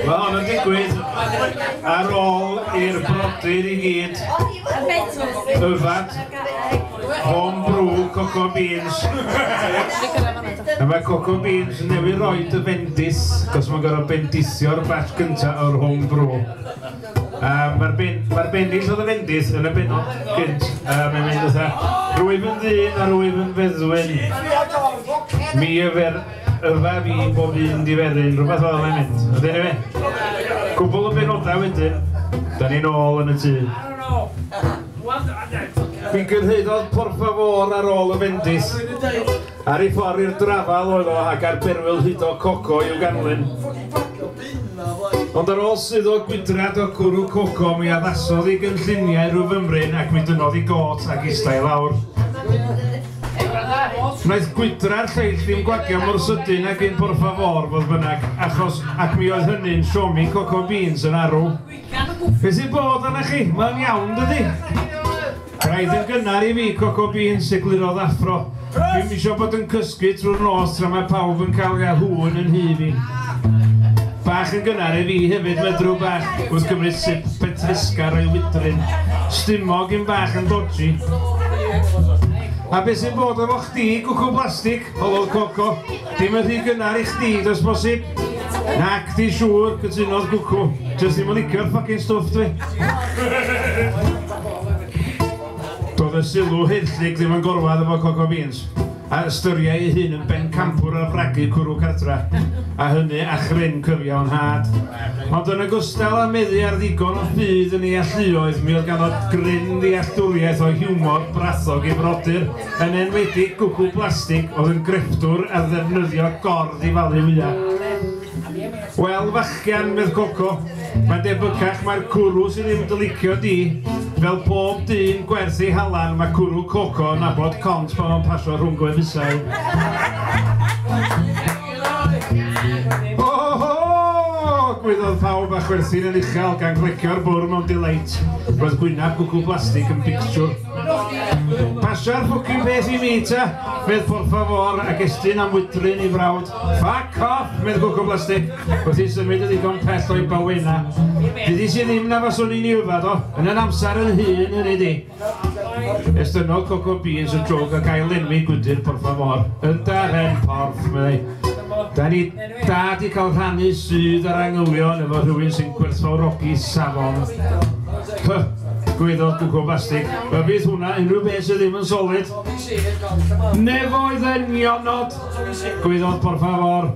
Mae hon yn digwydd ar ôl i'r brodyr i gyd yfad home brew coco beans. A mae coco beans newydd roed y fendis, cos mae'n gorfod bendisio'r batch gyntaf o'r home brew. Yym, mae'r ben- mae'r bennill oedd yn fendith yn y bennod gynt, yy, mae'n mynd fatha, Rwyf yn ddyn a rwyf yn feddwyn, mi yfer yfa fi bob un diferyn, rhywbeth fel mae'n mynd. Ond eniwe, cwbl o benodau wedyn, da ni'n ôl yn y tŷ. Mi gyrhaeddodd Por Favor ar ôl y fendith. Ar ei ffordd i'r drafal oedd o ac ar berwyl hudo coco i'w ganlyn. Ond ar ôl suddo gwydrad o gwrw coco mi addasodd i gynlluniau rhyw fymryn ac mi dynnodd i gôt ac ista i lawr. Wnaeth gwydra'r lleill ddim gwagio mor sydyn ag un por favor fodd bynnag, achos, ac mi oedd hynny'n siomi coco beans yn arw. Beth sy'n bod arna chi? Mae'n iawn yn dydi? Braidd yn gynnar i fi Coco Beans, eglurodd Affro. Dwi'm isio bod yn cysgu trwy'r nos tra mae pawb yn cael Yahoo yn yn nhu fi. Bach yn gynnar i fi hefyd, medru bach, wrth gymryd sip petrisgar o'i wydryn. Stumog i'm bach yn dodgy. A beth sy'n bod efo chdi, gwcw blastig? holodd Coco. Dim yn rhy gynnar i chdi does bosib? Nac di siŵr, cytunodd Gwcw. Jyst ddim yn licio'r ffocin stwff dwi. Doedd y sylw haethlig ddim yn gorwedd efo Coco Beans, a ystyriai ei hun yn bencampwr ar fragu cwrw cartra, a hynny a chryn cyfiawn had. Ond yn ogystal â meddu ar ddigon o ffydd yn ei alluoedd, mi oedd ganddo gryn ddealltwriaeth o hiwmor brathog ei frodyr. Yn enwedig Gwgl Blastig oedd yn grefftwr ar ddefnyddio gord i falu wyau. Wel, fachgen, medd Coco, mae'n debycach mai'r cwrw sydd ddim dy licio di. Fel pob dyn gwerth ei halan, mae cwrw Coco yn nabod cont pan fo'n pasio rhwng gwefusau. Gwedodd pawb a chwerthin yn uchel gan glecio'r bwrw mewn delight. Roedd gwyneb gwgl blastig yn bictiwr. Pasio'r ffwcin peth i mi ta, medd por favor ac estyn am wydryn i frawd. Fuck off! medd Gwco Plastig, wrth i symud yn ddigon pell o'i bawena. Dydi si ddim na faswn i'n i yfad o, yn yr amser yn hŷn, hynny di. Estynnodd Coco Beans y jwg ac ail-lenwi gwydr por favor. Ynda, Ren, porf, meddai. Da ni Da di cael rhannu sydd ar angylion efo rhywun sy'n gwerthfawrogi safon. Huh, gweiddodd Gwco Bastig. Fe fydd hwnna unrhyw beth sydd ddim yn solid. Nefoedd yn nionod, gweiddodd por favor.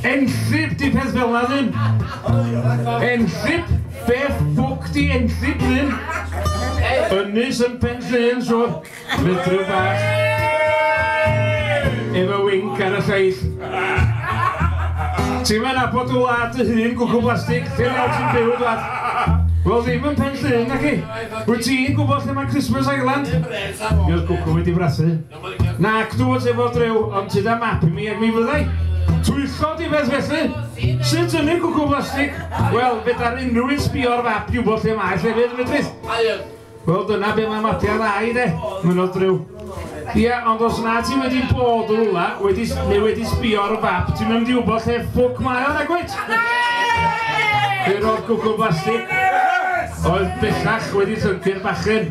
Enllib di peth fel na ddim. Enllib? Beth ffwc di enllib ddim? Ynys yn pen llun, siwr. Rhydrw bach efo winc ar y llais. Ti'm yn nabod dy wlad dy hun, gwcw blastig, ti'n iawn ti'n byw dwad. Wel ddim yn pen llun na chi. Wyt ti'n gwybod lle mae Christmas Island? Mi oedd gwcw wedi brassu. Nac dw fod efo drew, ond ti da map i mi ac mi fyddai. Twyllo di beth felly? Sut ynu gwcw blastig? Wel, fe dar unrhyw un sbio ar fap i wybod lle mae llefydd medrith. Wel dyna be mae Matti a ddau de, mynnodd Drew. Ia, ond os na ti wedi bod yn rwla, wedi, neu wedi sbio ar y fap, ti'n mynd i wybod lle ffwc mae o'n egwyt? Fe roedd gwgl blastig, oedd bellach wedi llyncu'r bachyn.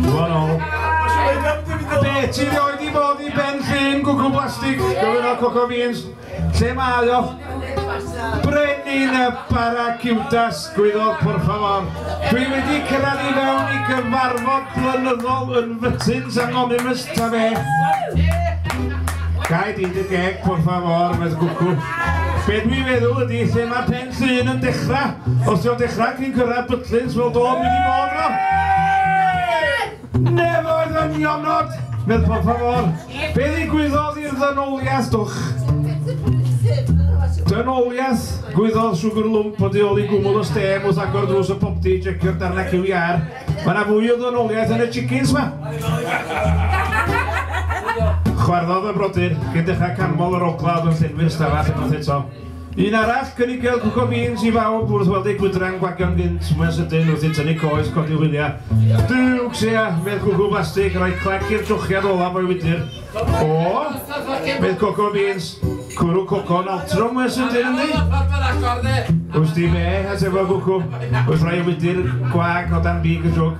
Dwi'n ôl. Be, ti rioed i fod i ben llun gwgl blastig, gofyn o Coco Beans? Lle mae o? Brenin y Baraciwdas, Gwyddor, por favor. Dwi wedi cyrraedd i fewn i gyfarfod blynyddol yn Fytins Anonymous ta fe. Gai di dy geg, por favor, mae'n gwcw. Be dwi'n meddwl ydy lle mae pen llun yn dechrau. Os ti'n dechrau cyn cyrraedd Bytlins, wel do, dwi wedi bod yno. Never the nionod! Medd por favor, be ddigwyddodd i'r ddynoliaeth dwch? Dynoliaeth, gwyddodd Sugar Lump o tu ôl i gwmwl y stêm wrth agor drws y popty i jecio'r darnau cyw iâr. Mae yna fwy o ddynoliaeth yn y chickens ma. Chwarddodd y brodyr, cyn dechrau canmol yr ogla oedd yn llenwi'r stafell unwaith eto. Un arall, cynigiodd Gwco Beans i bawb wrth weld eu gwydra'n gwagio'n gynt, mwy'n sydyn, wrth i tynnu coes codi hwyliau. Duwcs, sea, medd Cwcw Blastig, rhoi clec i'r trochiad olaf o'i wydr. O! medd Coco Beans, cwrw coco'n altro mwy'n sydyn ynddi? Wsti be? atefodd Gwcw, wrth roi ei wydr gwag o dan big y jwg.